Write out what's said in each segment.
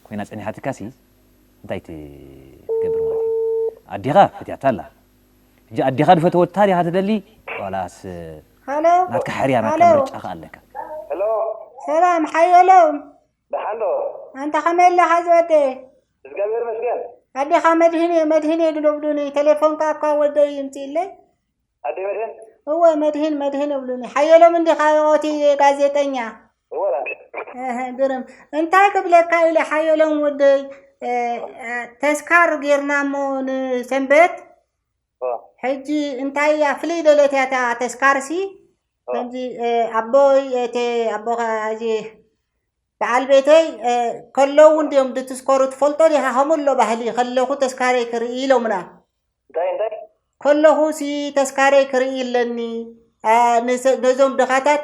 ኮይና ጸኒሓትካሲ እንታይ ትገብር ማለት እዩ ኣዴኻ ፈትያታ ኣላ ሕጂ ኣዴኻ ድፈተወት ታሪ ኢኻ ትደሊ ዋላስ ሀሎ ናትካ ሕርያ ናትካ ሀሎ ምርጫ ከ ኣለካ። ሄሎ ሰላም ሓየሎም ደሓን ዶ? ኣንታ ከመይ ኣለኻ ዝወደይ እዝጋብሄር ይመስገን። ኣዴኻ መድህኔ መድህኔ ግዶብዱኒ ቴሌፎን ከኣ እኳ ወደይ ይምጽእለይ ኣደይ መድህን እወ መድህን መድህን እብሉኒ ሓየሎም እንዲኻ የቖቲ ጋዜጠኛ ግርም እንታይ ክብለካ ኢለ ሓየሎም ወደይ ተስካር ጌርና እሞ ንሰንበት ሕጂ እንታይ እያ ፍልይ ደለት እያ እታ ተስካርሲ ከምዚ ኣቦይ እቲ ኣቦ እዚ በዓል ቤተይ ከለዉ እውን ድዮም ድትስከሩ ትፈልጦ ዲኻ ከምኡ ኣሎ ባህሊ ከለኹ ተስካረይ ክርኢ ኢሎምና እንታይ እንታይ ከለኹ ሲ ተስካረይ ክርኢ ኣለኒ ነዞም ድኻታት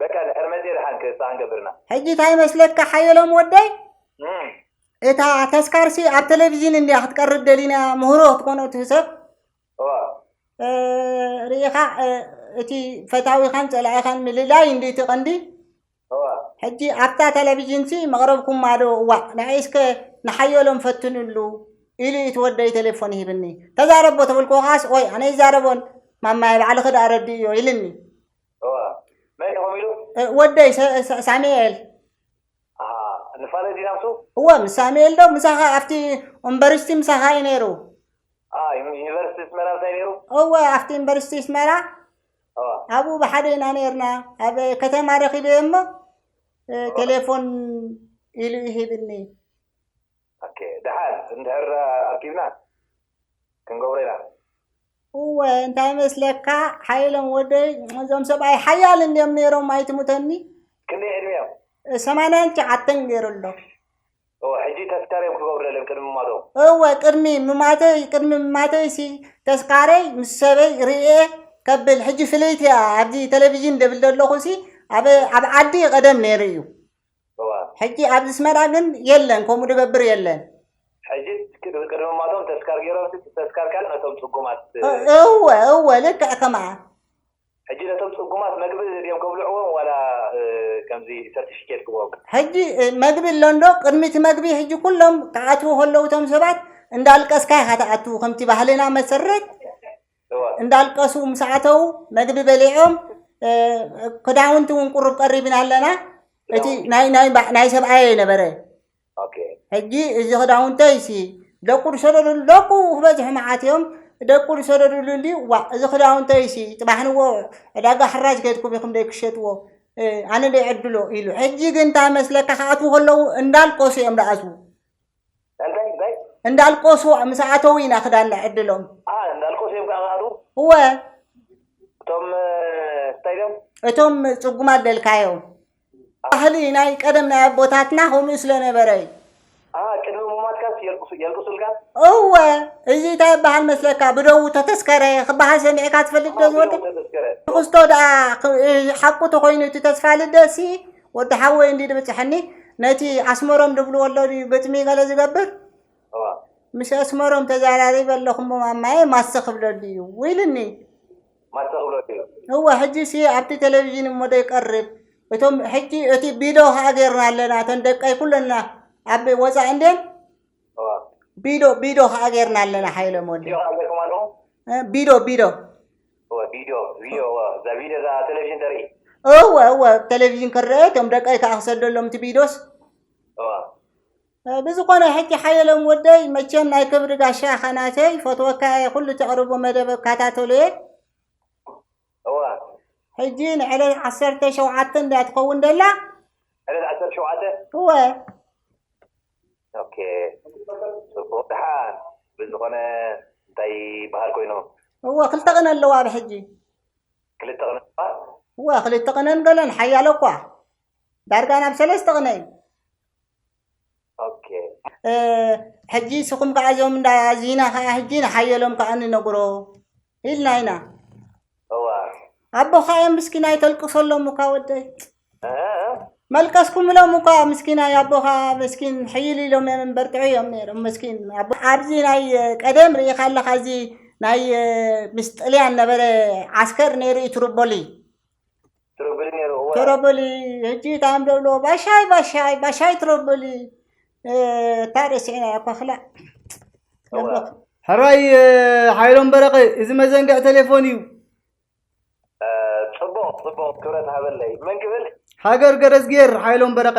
በቃ ድሕሪ መጺኤ ድሓን ክሳን ገብርና። ሕጂ ታይ መስለካ ሓየሎም ወደይ እም፣ እታ ተስካርሲ ኣብ ቴሌቭዥን እንድያ ክትቀርብ ደሊና ምህሮ ክትኮኖ እቲ ሰብ እዋ እ፣ ርኢኻ እ፣ እቲ ፈታዊኻን ጸላኢኻን ምልላይ እንዲ እቲ ቀንዲ እዋ ሕጂ ኣብታ ቴሌቭዥንሲ መቕረብኩማ ዶ እዋእ ንዐይ እስከ ንሓየሎም ፈትንሉ ኢሉ እዩ እቲ ወደይ ቴሌፎን ሂብኒ ተዛረቦ ተበልኩዎ ከዓስ ኦይ ኣነ ይዛረቦን ማማየ ባዕልኺ ደኣ ረድእዮ ኢልኒ መን ኢኹም ኢሉ ወደይ ሳሙኤል ንፋለ ዲና ምስ እዎ ምስ ሳሙኤል ዶ ምሳኻ ኣብቲ ዩኒቨርሲቲ ምሳኻ እዩ ነይሩ ዩኒቨርሲቲ ስመራ እንታይ ነይሩ እወ ኣብቲ ዩኒቨርሲቲ ስመራ ኣብኡ ብሓደ ኢና ነርና ኣብ ከተማ ረኺበ እሞ ቴሌፎን ኢሉ ይሂብኒ ኣከ ደሓን እንድሕር ኣርኪብና ክንገብሮ ኢና። እወ እንታይ መስለካ ሓየሎም ወደይ እዞም ሰብኣይ ሓያል እንድዮም ነይሮም ኣይትሙተኒ ክንደይ ዕድሜኦም ሰማንያን ትሽዓተን ገይሩ ኣሎ እወ ሕጂ ተስካርዮም ክገብሩ ደልዮም ቅድሚ ምማቶም እወ ቅድሚ ምማተይ ቅድሚ ምማተይሲ ተስካረይ ምስ ሰበይ ርእየ ከብል ሕጂ ፍልይቲ እያ ኣብዚ ቴሌቭዥን ደብል ዘለኹሲ ኣብ ኣብ ዓዲ ቀደም ነይሩ እዩ እዋእ። ሕጂ ኣብ ዝስመራ ግን የለን ከምኡ ድገብር የለን። ሕጂስ ቅድምማቶም ተስካር ጌሮምሲ እቲ ተስካር ከኣ ነቶም ጽጉማት። እወ እወ ልክዕ ከምኣ። ሕጂ ነቶም ጽጉማት መግቢ ድዮም ከብልዕዎም ዋላ ከምዚ ሰርቲፊኬት ክበኦም። ሕጂ መግቢ ኣሎ እንዶ ቅድሚ እቲ መግቢ ሕጂ ኩሎም ክኣትዉ ከለዉ እቶም ሰባት እንዳልቀስካ ኢኻ ትኣቱ ከምቲ ባህልና መሰረት። እንዳልቀሱ ምስ ኣተዉ መግቢ በሊዖም ክዳውንቲ እውን ቁሩብ ቀሪብና ኣለና እቲ ናይ ናይ ባ- ናይ ሰብኣየ ነበረ ኦኬ ሕጂ እዚ ክዳውንተይ ሲ ደቁ ዝሰደዱሉ ደቁ ክበዝሑ መዓት እዮም ደቁ ዝሰደዱሉ እንዲ ዋ እዚ ክዳውንተይ ሲ ፅባሕ ንዎ ዕዳጋ ሕራጅ ከድኩም ኢኹም ደይ ክሸጥዎ እ፣ ኣነ ደይ ዕድሎ ኢሉ ሕጂ ግን እንታይ መስለካ ክኣትዉ ከለዉ እንዳልቀሱ እዮም ደኣትዉ እንታይ እንታይ እንዳልቆሱ ምስ ኣተው ኢና ክዳን ነዕድሎም ኣ እንዳልቆስ እዮም ከዓ ክኣትዉ እወ እቶም እ፣ እንታይ ድዮም እቶም ፅጉማት ደልካዮም ባህሊ ናይ ቀደም ናይ ኣቦታትና ከምኡ ስለነበረ እዩ ኣ ቅድሚ ሙማትካስ የልቅሱ የልቅሱልካ እወ እዚ እንታይ ይበሃል መስለካ ብደዉ ተተስከረ ክበሃል ሰሚዕካ ትፈልጥ ዶ ዝወደ ተዘከረ ንክስቶ ደኣ ክ- ሓቁ ተኮይኑ እቲ ተስፋ ልደሲ ወዲ ሓወይ እንዲ ድብጽሐኒ ነቲ ኣስመሮም ድብልዎ ኣሎ ድዩ ግጥሚ ገለ ዝገብር እዋ ምስ ኣስመሮም ተዘራሪበ ኣለኹሞ ማማየ ማሰ ክብለሉ እዩ ኢሉኒ ማሰ ክብሎ እዩ እወ ሕጂ ሲ ኣብቲ ቴሌቪዥን እሞ ዶ ይቀርብ እቶም ሕጂ እቲ ቢዶ ከዓ ጌርና ኣለና እተን ደቀይ ኩለና ኣብ ወፃኢ እንዴን እዋ ቢዶ ቢዶ ከዓ ጌርና ኣለና ሓይለ ሞለ ቢዶ ኣገርኩም ኣለኹም እ፣ ቢዶ ቢዶ እወ ቪድዮ ቪድዮ እወ እዛ ቪድዮ እዛ ቴሌቪዥን ተርኢ እወ እወ ቴሌቪዥን ክረአ እቶም ደቀይ ከዓ ክሰደሎም እቲ ቪድዮስ እወ ብዝኾነ ሕጂ ሓየሎም ወደይ መቸም ናይ ክብሪ ጋሻ ኢኻ ናተይ ፈትወካ እየ ኩሉ ተቕርቦ መደብ እከታተሎ እየ እወ ሕጂ ንዕለት ዓሰርተ ሸውዓተ እንድያ ትኸውን ደላ ዕለት ዓሰርተ ሸውዓተ እወ ኦኬ ጽቡቅ ድሓን ብዝኮነ እንታይ ይብሃል ኮይኑ እወ ክልተ ቅነ ኣለዋ ኣብ ሕጂ ክልተ ቅነ ኣለዋ እወ ክልተ ቅነን ገለን ሓያሎ እኳ ዳርጋ ናብ ሰለስተ ቅነ እዩ ኦኬ ሕጂ ስኹም ከዓ እዞም እንዳ ዚና ከዓ ሕጂ ንሓየሎም ከዓ ንነግሮ ኢልና ኢና እዋ ኣቦኻ እዮም ምስኪናይ ተልቅሰሎም እኳ ወደይ እ መልቀስኩምሎም እኳ ምስኪናይ ኣቦኻ መስኪን ሕይል ኢሎም እዮም በርትዑ እዮም ነይሮም መስኪን ኣቦ ኣብዚ ናይ ቀደም ርኢኻ ኣለኻ እዚ ናይ ምስ ጥልያን ነበረ ዓስከር ነይሩ እዩ ትሩቦሊ ትሮቦሊ ሕጂ እታ ንደብሎ ባሻይ ባሻይ ባሻይ ትሮቦሊ እታ ረሲዕና እያ እኳ ክላእ ሕራይ ሓይሎም በረቐ እዚ መዘንግዕ ቴሌፎን እዩ ፅቡቕ ፅቡቕ ክብረት ሃበለይ መን ክብል ሃገር ገረዝጌር ሓይሎም በረቐ